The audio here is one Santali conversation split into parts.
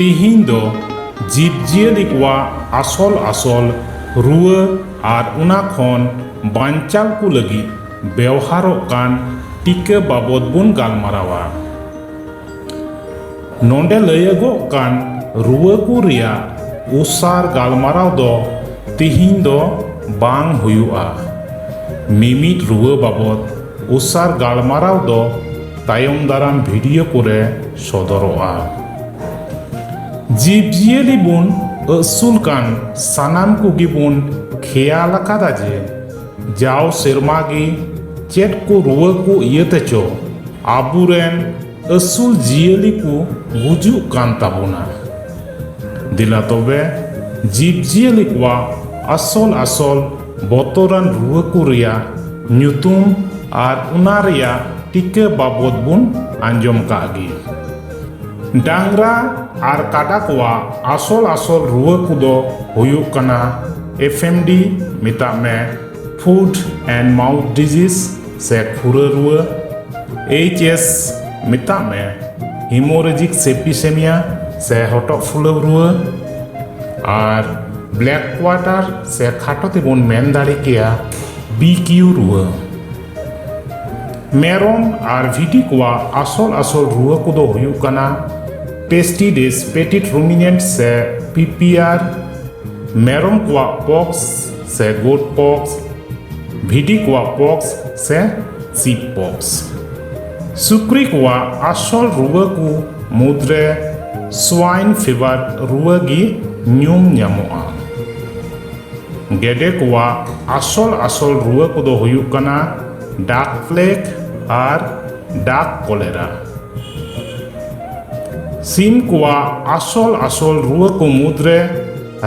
ᱛᱤᱦᱤᱧ ᱫᱚ ᱡᱤᱵᱽ ᱡᱤᱭᱟᱹᱞᱤ ᱠᱚᱣᱟᱜ ᱟᱥᱚᱞ ᱟᱥᱚᱞ ᱨᱩᱣᱟᱹ ᱟᱨ ᱚᱱᱟ ᱠᱷᱚᱱ ᱵᱟᱧᱪᱟᱣ ᱠᱚ ᱞᱟᱹᱜᱤᱫ ᱵᱮᱣᱦᱟᱨᱚᱜ ᱠᱟᱱ ᱴᱤᱠᱟᱹ ᱵᱟᱵᱚᱫ ᱵᱚᱱ ᱜᱟᱞᱢᱟᱨᱟᱣᱟ ᱱᱚᱰᱮ ᱞᱟᱹᱭᱟᱹᱜᱚᱜ ᱠᱟᱱ ᱨᱩᱣᱟᱹ ᱠᱚ ᱨᱮᱭᱟᱜ ᱩᱥᱟᱨ ᱜᱟᱞᱢᱟᱨᱟᱣ ᱫᱚ ᱛᱤᱦᱤᱧ ᱫᱚ ᱵᱟᱝ ᱦᱩᱭᱩᱜᱼᱟ᱾ ᱢᱤᱢᱤᱫ ᱨᱩᱣᱟᱹ ᱵᱟᱵᱚᱛ ᱩᱥᱟᱨ ᱜᱟᱞᱢᱟᱨᱟᱣ ᱫᱚ ᱛᱟᱭᱚᱢ ᱫᱟᱨᱟᱢ ᱵᱷᱤᱰᱤᱭᱳ ᱠᱚᱨᱮ ᱥᱚᱫᱚᱨᱚᱜᱼᱟ᱾ ᱡᱤᱵᱽᱡᱤᱭᱟᱹᱞᱤ ᱵᱚᱱ ᱟᱹᱥᱩᱞ ᱠᱟᱱ ᱥᱟᱱᱟᱢ ᱠᱚᱜᱮ ᱵᱚᱱ ᱠᱷᱮᱭᱟᱞ ᱟᱠᱟᱫᱟ ᱡᱮ ᱡᱟᱣ ᱥᱮᱨᱢᱟ ᱜᱮ ᱪᱮᱫ ᱠᱚ ᱨᱩᱣᱟᱹ ᱠᱚ ᱤᱭᱟᱹᱛᱮ ᱪᱚ ᱟᱵᱚ ᱨᱮᱱ ᱟᱹᱥᱩᱞ ᱡᱤᱭᱟᱹᱞᱤ ᱠᱚ ᱜᱩᱡᱩᱜ ᱠᱟᱱ ᱛᱟᱵᱚᱱᱟ ᱫᱮᱞᱟ ᱛᱚᱵᱮ ᱡᱤᱵᱽᱼᱡᱤᱭᱟᱹᱞᱤ ᱠᱚᱣᱟᱜ ᱟᱥᱚᱞ ᱟᱥᱚᱞ ᱵᱚᱛᱚᱨᱟᱱ ᱨᱩᱣᱟᱹ ᱠᱚ ᱨᱮᱭᱟᱜ ᱧᱩᱛᱩᱢ ᱟᱨ ᱚᱱᱟ ᱨᱮᱭᱟᱜ ᱴᱤᱠᱟᱹ ᱵᱟᱵᱚᱫ ᱵᱚᱱ ᱟᱸᱡᱚᱢ ᱠᱟᱜ ᱜᱮ ᱰᱟᱝᱨᱟ ᱟᱨ ᱠᱟᱰᱟ ᱠᱚᱣᱟᱜ ᱟᱥᱚᱞ ᱟᱥᱚᱞ ᱨᱩᱣᱟᱹ ᱠᱚᱫᱚ ᱦᱩᱭᱩᱜ ᱠᱟᱱᱟ ᱮᱯᱷᱮᱢᱰᱤ ᱢᱮᱛᱟᱜ ᱢᱮ ᱯᱷᱩᱰ ᱮᱱᱰ ᱢᱟᱣᱩᱛᱷ ᱰᱤᱡᱤᱡᱽ ᱥᱮ ᱠᱷᱩᱨᱟᱹ ᱨᱩᱣᱟᱹ ᱮᱭᱤᱪ ᱮᱥ ᱢᱮᱛᱟᱜ ᱢᱮ ᱦᱤᱢᱳᱨᱮᱡᱤᱠ ᱥᱮᱯᱤᱥᱮᱢᱤᱭᱟ ᱥᱮ ᱦᱚᱴᱚᱜ ᱯᱷᱩᱞᱟᱹᱣ ᱨᱩᱣᱟᱹ ᱟᱨ ᱵᱞᱮᱠ ᱠᱣᱟᱴᱟᱨ ᱥᱮ ᱠᱷᱟᱴᱚ ᱛᱮᱵᱚᱱ ᱢᱮᱱ ᱫᱟᱲᱮ ᱠᱮᱭᱟ ᱵᱤ ᱠᱤᱭᱩ ᱨᱩᱣᱟᱹ ᱢᱮᱨᱚᱢ ᱟᱨ ᱵᱷᱤᱴᱤ ᱠᱚᱣᱟᱜ ᱟᱥᱚᱞ ᱟᱥᱚᱞ ᱨᱩᱣᱟᱹ ᱠᱚᱫᱚ ᱦᱩᱭᱩᱜ ᱠᱟᱱᱟ ᱯᱮᱥᱴᱤᱰᱮᱥ ᱯᱮᱴᱤᱴ ᱨᱩᱢᱤᱱᱮᱱᱴ ᱥᱮ ᱯᱤᱯᱤᱟᱨ ᱢᱮᱨᱚᱢ ᱠᱚᱣᱟᱜ ᱯᱚᱠᱥ ᱥᱮ ᱜᱳᱴ ᱯᱚᱠᱥ ᱵᱷᱤᱴᱤ ᱠᱚᱣᱟᱜ ᱯᱚᱠᱥ ᱥᱮ ᱥᱤᱯ ᱯᱚᱠᱥ ᱥᱩᱠᱨᱤ ᱠᱚᱣᱟᱜ ᱟᱥᱚᱞ ᱨᱩᱣᱟᱹ ᱠᱚ ᱢᱩᱫᱽᱨᱮ ᱥᱣᱟᱭᱤᱱ ᱯᱷᱤᱵᱟᱨ ᱨᱩᱣᱟᱹ ᱜᱮ ᱧᱩᱢ ᱧᱟᱢᱚᱜᱼᱟ ᱜᱮᱰᱮ ᱠᱚᱣᱟᱜ ᱟᱥᱚᱞ ᱟᱥᱚᱞ ᱨᱩᱣᱟᱹ ᱠᱚᱫᱚ ᱦᱩᱭᱩᱜ ᱠᱟᱱᱟ ᱰᱟᱠ ᱯᱞᱮᱜᱽ ᱟᱨ ᱰᱟᱠ ᱠᱚᱞᱮᱨᱟ ᱥᱤᱢ ᱠᱚᱣᱟᱜ ᱟᱥᱚᱞ ᱟᱥᱚᱞ ᱨᱩᱣᱟᱹ ᱠᱚ ᱢᱩᱫᱽᱨᱮ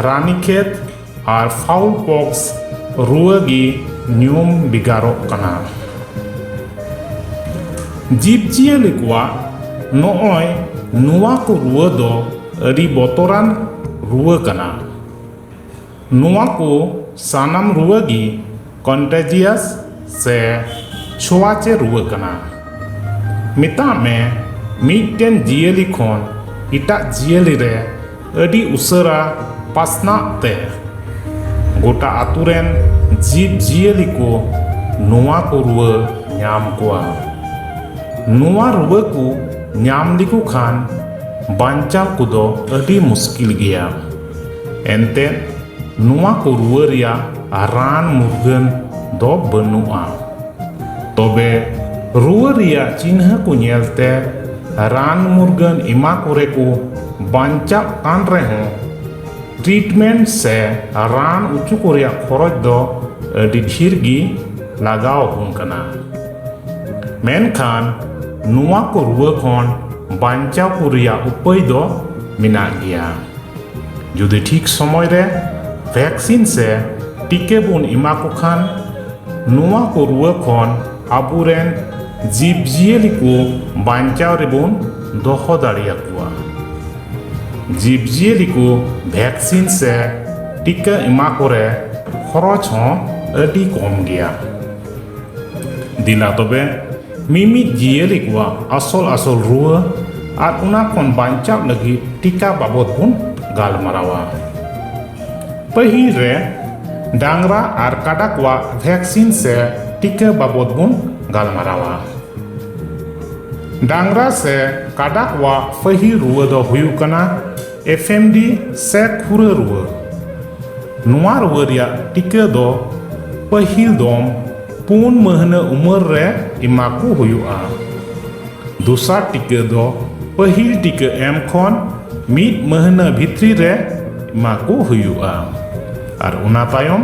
ᱨᱟᱱᱤᱠᱷᱮᱛ ᱟᱨ ᱯᱷᱟᱣᱩᱞ ᱯᱚᱠᱥ ᱨᱩᱣᱟᱹ ᱜᱮ ᱧᱩᱢ ᱵᱷᱮᱜᱟᱨᱚᱜ ᱠᱟᱱᱟ ᱡᱤᱵᱽᱼᱡᱤᱭᱟᱹᱞᱤ ᱠᱚᱣᱟᱜ ᱱᱚᱜᱼᱚᱭ ᱱᱚᱣᱟ ᱠᱚ ᱨᱩᱣᱟᱹ ᱫᱚ ᱟᱹᱰᱤ ᱵᱚᱛᱚᱨᱟᱱ ᱨᱩᱣᱟᱹ ᱠᱟᱱᱟ ᱱᱚᱣᱟ ᱠᱚ ᱥᱟᱱᱟᱢ ᱨᱩᱣᱟᱹ ᱜᱮ ᱠᱚᱱᱴᱮᱡᱤᱭᱟᱥ ᱥᱮ ᱪᱷᱳᱣᱟᱪᱮ ᱨᱩᱣᱟᱹ ᱠᱟᱱᱟ᱾ ᱢᱮᱛᱟᱜ ᱢᱮ ᱢᱤᱫᱴᱮᱱ ᱡᱤᱭᱟᱹᱞᱤ ᱠᱷᱚᱱ ᱮᱴᱟᱜ ᱡᱤᱭᱟᱹᱞᱤ ᱨᱮ ᱟᱹᱰᱤ ᱩᱥᱟᱹᱨᱟ ᱯᱟᱥᱱᱟᱜ ᱛᱮ᱾ ᱜᱚᱴᱟ ᱟᱹᱛᱩ ᱨᱮᱱ ᱡᱤᱵᱽ ᱡᱤᱭᱟᱹᱞᱤ ᱠᱚ ᱱᱚᱣᱟ ᱠᱚ ᱨᱩᱣᱟᱹ ᱧᱟᱢ ᱠᱚᱣᱟ᱾ ᱱᱚᱣᱟ ᱨᱩᱣᱟᱹ ᱠᱚ ᱧᱟᱢ ᱞᱮᱠᱚ ᱠᱷᱟᱱ ᱵᱟᱧᱪᱟᱣ ᱠᱚᱫᱚ ᱟᱹᱰᱤ ᱢᱩᱥᱠᱤᱞ ᱜᱮᱭᱟ᱾ ᱮᱱᱛᱮᱫ ᱱᱚᱣᱟ ᱠᱚ ᱨᱩᱣᱟᱹ ᱨᱮᱭᱟᱜ ᱨᱟᱱ ᱢᱩᱨᱜᱟᱹᱱ ᱫᱚ ᱵᱟᱹᱱᱩᱜᱼᱟ ᱛᱚᱵᱮ ᱨᱩᱣᱟᱹ ᱨᱮᱭᱟᱜ ᱪᱤᱱᱦᱟᱹ ᱠᱚ ᱧᱮᱞᱛᱮ ᱨᱟᱱ ᱢᱩᱨᱜᱟᱹᱱ ᱮᱢᱟ ᱠᱚᱨᱮ ᱠᱚ ᱵᱟᱧᱪᱟᱜ ᱠᱟᱱ ᱨᱮᱦᱚᱸ ᱴᱨᱤᱴᱢᱮᱱᱴ ᱥᱮ ᱨᱟᱱ ᱚᱪᱚ ᱠᱚ ᱨᱮᱭᱟᱜ ᱠᱷᱚᱨᱚᱪ ᱫᱚ ᱟᱹᱰᱤ ᱰᱷᱮᱨ ᱜᱮ ᱞᱟᱜᱟᱣ ᱟᱵᱚᱱ ᱠᱟᱱᱟ ᱢᱮᱱᱠᱷᱟᱱ ᱱᱚᱣᱟ ᱠᱚ ᱨᱩᱣᱟᱹ ᱠᱷᱚᱱ ᱵᱟᱧᱪᱟᱣ ᱠᱚ ᱨᱮᱭᱟᱜ ᱩᱯᱟᱹᱭ ᱫᱚ ᱢᱮᱱᱟᱜ ᱜᱮᱭᱟ ᱡᱩᱫᱤ ᱴᱷᱤᱠ ᱥᱚᱢᱚᱭ ᱨᱮ ᱵᱷᱮᱠᱥᱤᱱ ᱥᱮ ᱴᱤᱠᱟᱹ ᱵᱚᱱ ᱮᱢᱟ ᱠᱚ ᱠᱷᱟᱱ ᱱᱚᱣᱟ ᱠᱚ ᱨᱩᱣᱟᱹ ᱠᱷᱚᱱ ᱟᱵᱚᱨᱮᱱ ᱡᱤᱵᱽᱼᱡᱤᱭᱟᱹᱞᱤ ᱠᱚ ᱵᱟᱧᱪᱟᱣ ᱨᱮᱵᱚᱱ ᱫᱚᱦᱚ ᱫᱟᱲᱮᱭᱟᱠᱚᱣᱟ ᱡᱤᱵᱽᱼᱡᱤᱭᱟᱹᱞᱤ ᱠᱚ ᱵᱷᱮᱠᱥᱤᱱ ᱥᱮ ᱴᱤᱠᱟᱹ ᱮᱢᱟ ᱠᱚᱨᱮ ᱠᱷᱚᱨᱚᱪ ᱦᱚᱸ ᱟᱹᱰᱤ ᱠᱚᱢ ᱜᱮᱭᱟ ᱫᱮᱞᱟ ᱛᱚᱵᱮ ᱢᱤᱢᱤᱫ ᱡᱤᱭᱟᱹᱞᱤ ᱠᱚᱣᱟᱜ ᱟᱥᱚᱞ ᱟᱥᱚᱞ ᱨᱩᱣᱟᱹ ᱟᱨ ᱚᱱᱟ ᱠᱷᱚᱱ ᱵᱟᱧᱪᱟᱣ ᱞᱟᱹᱜᱤᱫ ᱴᱤᱠᱟ ᱵᱟᱵᱚᱫ ᱵᱚᱱ ᱜᱟᱞᱢᱟᱨᱟᱣᱟ ᱯᱟᱹᱦᱤᱞ ᱨᱮ ᱰᱟᱝᱨᱟ ᱟᱨ ᱠᱟᱰᱟ ᱠᱚᱣᱟᱜ ᱵᱷᱮᱠᱥᱤᱱ ᱥᱮ ᱴᱤᱠᱟ ᱵᱟᱵᱚᱫ ᱵᱚᱱ ᱜᱟᱞᱢᱟᱨᱟᱣᱟ ᱰᱟᱝᱨᱟ ᱥᱮ ᱠᱟᱰᱟ ᱠᱚᱣᱟᱜ ᱯᱟᱹᱦᱤᱞ ᱨᱩᱣᱟᱹ ᱫᱚ ᱦᱩᱭᱩᱜ ᱠᱟᱱᱟ FMD ᱥᱮ ᱠᱷᱩᱨᱟᱹ ᱨᱩᱣᱟᱹ ᱱᱚᱣᱟ ᱨᱩᱣᱟᱹ ᱨᱮᱭᱟᱜ ᱴᱤᱠᱟᱹ ᱫᱚ ᱯᱟᱹᱦᱤᱞ ᱫᱚᱢ ᱯᱩᱱ ᱢᱟᱹᱦᱱᱟᱹ ᱩᱢᱟᱹᱨ ᱨᱮ ᱮᱢᱟ ᱠᱚ ᱦᱩᱭᱩᱜᱼᱟ ᱫᱚᱥᱟᱨ ᱴᱤᱠᱟᱹ ᱫᱚ ᱯᱟᱹᱦᱤᱞ ᱴᱤᱠᱟᱹ ᱮᱢ ᱠᱷᱚᱱ ᱢᱤᱫ ᱢᱟᱹᱦᱱᱟᱹ ᱵᱷᱤᱛᱨᱤ ᱨᱮ ᱮᱢᱟ ᱠᱚ ᱦᱩᱭᱩᱜᱼᱟ ᱟᱨ ᱚᱱᱟ ᱛᱟᱭᱚᱢ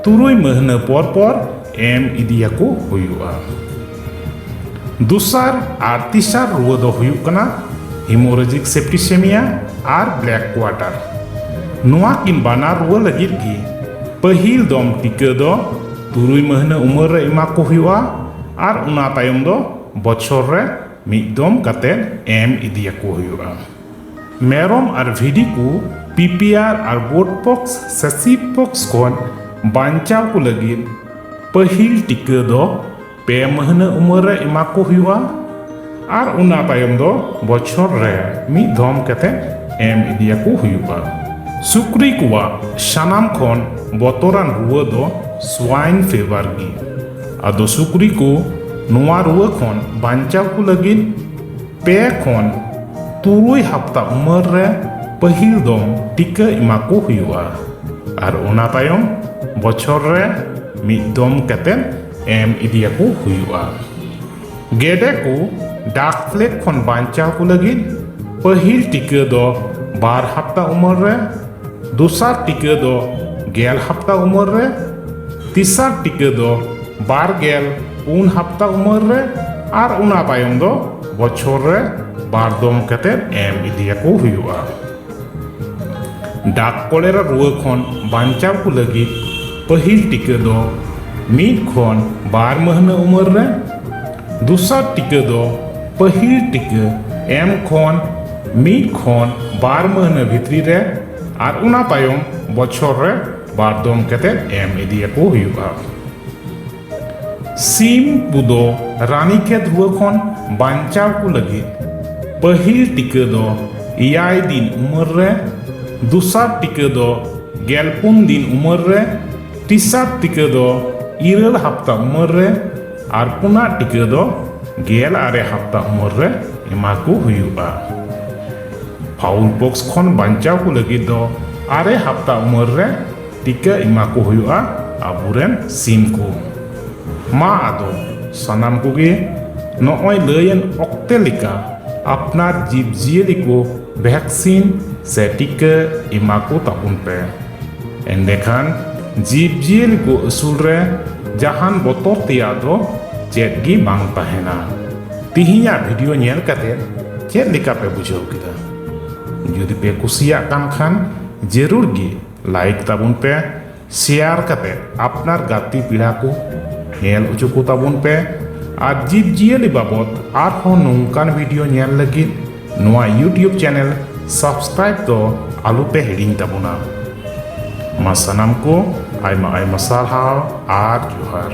ᱛᱩᱨᱩᱭ ᱢᱟᱹᱦᱱᱟᱹ ᱯᱚᱨ ᱯᱚᱨ ᱮᱢ ᱤᱫᱤᱭᱟᱠᱚ ᱦᱩᱭᱩᱜᱼᱟ ᱫᱩᱥᱟᱨ ᱟᱨ ᱛᱤᱥᱟᱨ ᱨᱩᱣᱟᱹ ᱫᱚ ᱦᱩᱭᱩᱜ ᱠᱟᱱᱟ ᱦᱤᱢᱳᱨᱮᱡᱤᱠ ᱥᱮᱯᱴᱤᱥᱮᱢᱤᱭᱟ ᱟᱨ ᱵᱞᱮᱠ ᱠᱣᱟᱴᱟᱨ ᱱᱚᱣᱟ ᱠᱤᱱ ᱵᱟᱱᱟᱨ ᱨᱩᱣᱟᱹ ᱞᱟᱹᱜᱤᱫ ᱜᱮ ᱯᱟᱹᱦᱤᱞ ᱫᱚᱢ ᱴᱤᱠᱟᱹ ᱫᱚ ᱛᱩᱨᱩᱭ ᱢᱟᱹᱦᱱᱟᱹ ᱩᱢᱮᱨ ᱨᱮ ᱮᱢᱟ ᱠᱚ ᱦᱩᱭᱩᱜᱼᱟ ᱟᱨ ᱚᱱᱟ ᱛᱟᱭᱚᱢ ᱫᱚ ᱵᱚᱪᱷᱚᱨ ᱨᱮ ᱢᱤᱫ ᱫᱚᱢ ᱠᱟᱛᱮ ᱮᱢ ᱤᱫᱤᱭᱟᱠᱚ ᱦᱩᱭᱩᱜᱼᱟ ᱢᱮᱨᱚᱢ ᱟᱨ ᱵᱷᱤᱰᱤ ᱠᱚ ᱯᱤᱯᱤᱟᱨ ᱟᱨ ᱜᱳᱰ ᱯᱚᱠᱥ ᱥᱮ ᱥᱤᱯ ᱯᱚᱠᱥ ᱠᱷᱚᱱ ᱵᱟᱧᱪᱟᱣ ᱠᱚ ᱞᱟᱹᱜᱤᱫ ᱯᱟᱹᱦᱤᱞ ᱴᱤᱠᱟᱹ ᱫᱚ ᱯᱮ ᱢᱟᱹᱦᱱᱟᱹ ᱩᱢᱮᱨ ᱨᱮ ᱮᱢᱟ ᱠᱚ ᱦᱩᱭᱩᱜᱼᱟ ᱟᱨ ᱚᱱᱟ ᱛᱟᱭᱚᱢ ᱫᱚ ᱵᱚᱪᱷᱚᱨ ᱨᱮ ᱢᱤᱫ ᱫᱷᱚᱢ ᱠᱟᱛᱮ ᱮᱢ ᱤᱫᱤᱭᱟᱠᱚ ᱦᱩᱭᱩᱜᱼᱟ ᱥᱩᱠᱨᱤ ᱠᱚᱣᱟᱜ ᱥᱟᱱᱟᱢ ᱠᱷᱚᱱ ᱵᱚᱛᱚᱨᱟᱱ ᱨᱩᱣᱟᱹ ᱫᱚ ᱥᱣᱟᱭᱤᱱ ᱯᱷᱮᱵᱟᱨ ᱜᱮ ᱟᱫᱚ ᱥᱩᱠᱨᱤ ᱠᱚ ᱱᱚᱣᱟ ᱨᱩᱣᱟᱹ ᱠᱷᱚᱱ ᱵᱟᱧᱪᱟᱣ ᱠᱚ ᱞᱟᱹᱜᱤᱫ ᱯᱮ ᱠᱷᱚᱱ ᱛᱩᱨᱩᱭ ᱦᱟᱯᱛᱟ ᱩᱢᱮᱨ ᱨᱮ ᱯᱟᱹᱦᱤᱞ ᱫᱚᱢ ᱴᱤᱠᱟᱹ ᱮᱢᱟ ᱠᱚ ᱦᱩᱭᱩᱜᱼᱟ ᱟᱨ ᱚᱱᱟ ᱛᱟᱭᱚᱢ ᱵᱚᱪᱷᱚᱨ ᱨᱮ ᱢᱤᱫ ᱫᱚᱢ ᱠᱟᱛᱮᱫ ᱮᱢ ᱤᱫᱤᱭᱟᱠᱚ ᱦᱩᱭᱩᱜᱼᱟ ᱜᱮᱰᱮ ᱠᱚ ᱰᱟᱠ ᱯᱞᱮᱜᱽ ᱠᱷᱚᱱ ᱵᱟᱧᱪᱟᱣ ᱠᱚ ᱞᱟᱹᱜᱤᱫ ᱯᱟᱹᱦᱤᱞ ᱴᱤᱠᱟᱹ ᱫᱚ ᱵᱟᱨ ᱦᱟᱯᱛᱟ ᱩᱢᱮᱨ ᱨᱮ ᱫᱚᱥᱟᱨ ᱴᱤᱠᱟᱹ ᱫᱚ ᱜᱮᱞ ᱦᱟᱯᱛᱟ ᱩᱢᱮᱨ ᱨᱮ ᱛᱤᱥᱟᱨ ᱴᱤᱠᱟᱹ ᱫᱚ ᱵᱟᱨ ᱜᱮᱞ ᱯᱩᱱ ᱦᱟᱯᱛᱟ ᱩᱢᱟᱹᱨ ᱨᱮ ᱟᱨ ᱚᱱᱟ ᱛᱟᱭᱚᱢ ᱫᱚ ᱵᱚᱪᱷᱚᱨ ᱨᱮ ᱵᱟᱨ ᱫᱚᱢ ᱠᱟᱛᱮ ᱮᱢ ᱤᱫᱤᱭᱟᱠᱚ ᱦᱩᱭᱩᱜᱼᱟ ᱰᱟᱠ ᱠᱚᱞᱮᱨᱟ ᱨᱩᱣᱟᱹ ᱠᱷᱚᱱ ᱵᱟᱧᱪᱟᱣ ᱠᱚ ᱞᱟᱹᱜᱤᱫ ᱯᱟᱹᱦᱤᱞ ᱴᱤᱠᱟᱹ ᱫᱚ ᱢᱤᱫ ᱠᱷᱚᱱ ᱵᱟᱨ ᱢᱟᱹᱦᱱᱟᱹ ᱩᱢᱟᱹᱨ ᱨᱮ ᱫᱚᱥᱟᱨ ᱴᱤᱠᱟᱹ ᱫᱚ ᱯᱟᱹᱦᱤᱞ ᱴᱤᱠᱟᱹ ᱮᱢ ᱠᱷᱚᱱ ᱢᱤᱫ ᱠᱷᱚᱱ ᱵᱟᱨ ᱢᱟᱹᱦᱱᱟᱹ ᱵᱷᱤᱛᱨᱤ ᱨᱮ ᱟᱨ ᱚᱱᱟ ᱛᱟᱭᱚᱢ ᱵᱚᱪᱷᱚᱨ ᱨᱮ ᱵᱟᱨ ᱫᱚᱢ ᱠᱟᱛᱮᱫ ᱮᱢ ᱤᱫᱤᱭᱟᱠᱚ ᱦᱩᱭᱩᱜᱼᱟ ᱥᱤᱢ ᱠᱚᱫᱚ ᱨᱟᱱᱤᱠᱷᱮᱛ ᱨᱩᱣᱟᱹ ᱠᱷᱚᱱ ᱵᱟᱧᱪᱟᱣ ᱠᱚ ᱞᱟᱹᱜᱤᱫ ᱯᱟᱹᱦᱤᱞ ᱴᱤᱠᱟᱹ ᱫᱚ ᱮᱭᱟᱭ ᱫᱤᱱ ᱩᱢᱮᱨ ᱨᱮ ᱫᱚᱥᱟᱨ ᱴᱤᱠᱟᱹ ᱫᱚ ᱜᱮᱞ ᱯᱩᱱ ᱫᱤᱱ ᱩᱢᱮᱨ ᱨᱮ ᱛᱮᱥᱟᱨ ᱴᱤᱠᱟᱹ ᱫᱚ ᱤᱨᱟᱹᱞ ᱦᱟᱯᱛᱟ ᱩᱢᱮᱨ ᱨᱮ ᱟᱨ ᱯᱩᱱᱟᱜ ᱴᱤᱠᱟᱹ ᱫᱚ ᱜᱮᱞ ᱟᱨᱮ ᱦᱟᱯᱛᱟ ᱩᱢᱮᱨ ᱨᱮ ᱮᱢᱟ ᱠᱚ ᱦᱩᱭᱩᱜᱼᱟ ᱯᱷᱟᱣᱩᱞ ᱯᱚᱠᱥ ᱠᱷᱚᱱ ᱵᱟᱧᱪᱟᱣ ᱠᱚ ᱞᱟᱹᱜᱤᱫ ᱫᱚ ᱟᱨᱮ ᱦᱟᱯᱛᱟ ᱩᱢᱟᱹᱨ ᱨᱮ ᱴᱤᱠᱟᱹ ᱮᱢᱟ ᱠᱚ ᱦᱩᱭᱩᱜᱼᱟ ᱟᱵᱚᱨᱮᱱ ᱥᱤᱢ ᱠᱚ ᱢᱟ ᱟᱫᱚ ᱥᱟᱱᱟᱢ ᱠᱚᱜᱮ ᱱᱚᱜᱼᱚᱭ ᱞᱟᱹᱭᱮᱱ ᱚᱠᱛᱮ ᱞᱮᱠᱟ ᱟᱯᱱᱟᱨ ᱡᱤᱵᱽ ᱡᱤᱭᱟᱹᱞᱤ ᱠᱚ ᱵᱷᱮᱠᱥᱤᱱ ᱥᱮ ᱴᱤᱠᱟᱹ ᱮᱢᱟ ᱠᱚ ᱛᱟᱵᱚᱱ ᱯᱮ ᱮᱸᱰᱮᱠᱷᱟᱱ ᱡᱤᱵᱽ ᱡᱤᱭᱟᱹᱞᱤ ᱠᱚ ᱟᱹᱥᱩᱞ ᱨᱮ ᱡᱟᱦᱟᱱ ᱵᱚᱛᱚᱨ ᱛᱮᱭᱟᱜ ᱫᱚ ᱪᱮᱫ ᱜᱮ ᱵᱟᱝ ᱛᱟᱦᱮᱱᱟ ᱛᱤᱦᱤᱧᱟᱜ ᱵᱷᱤᱰᱤᱭᱳ ᱧᱮᱞ ᱠᱟᱛᱮ ᱪᱮᱫ ᱞᱮᱠᱟ ᱯᱮ ᱵᱩᱡᱷᱟᱹᱣ ᱠᱮᱫᱟ ᱡᱩᱫᱤ ᱯᱮ ᱠᱩᱥᱤᱭᱟᱜ ᱠᱟᱱ ᱠᱷᱟᱱ ᱡᱟᱹᱨᱩᱲ ᱜᱮ ᱞᱟᱭᱤᱠ ᱛᱟᱵᱚᱱ ᱯᱮ ᱥᱮᱭᱟᱨ ᱠᱟᱛᱮ ᱟᱯᱱᱟᱨ ᱜᱟᱛᱮ ᱯᱤᱲᱟ ᱠᱚ ᱧᱮᱞ ᱦᱚᱪᱚ ᱠᱚ ᱛᱟᱵᱚᱱ ᱯᱮ ᱟᱨ ᱡᱤᱵᱽ ᱡᱤᱭᱟᱹᱞᱤ ᱵᱟᱵᱚᱫ ᱟᱨᱦᱚᱸ ᱱᱚᱝᱠᱟᱱ ᱵᱷᱤᱰᱤᱭᱳ ᱧᱮᱞ ᱞᱟᱹᱜᱤᱫ ᱱᱚᱣᱟ ᱤᱭᱩᱴᱤᱭᱩᱵᱽ ᱪᱮᱱᱮᱞ ᱥᱟᱵᱥᱠᱨᱟᱭᱤᱵ ᱫᱚ ᱟᱞᱚ ᱯᱮ ᱦᱤᱲᱤᱧ ᱛᱟᱵᱚᱱᱟ ᱢᱟ ᱥᱟᱱᱟᱢ ᱠᱚ ᱟᱭᱢᱟ ᱟᱭᱢᱟ ᱥᱟᱨᱦᱟᱣ ᱟᱨ ᱡᱚᱦᱟᱨ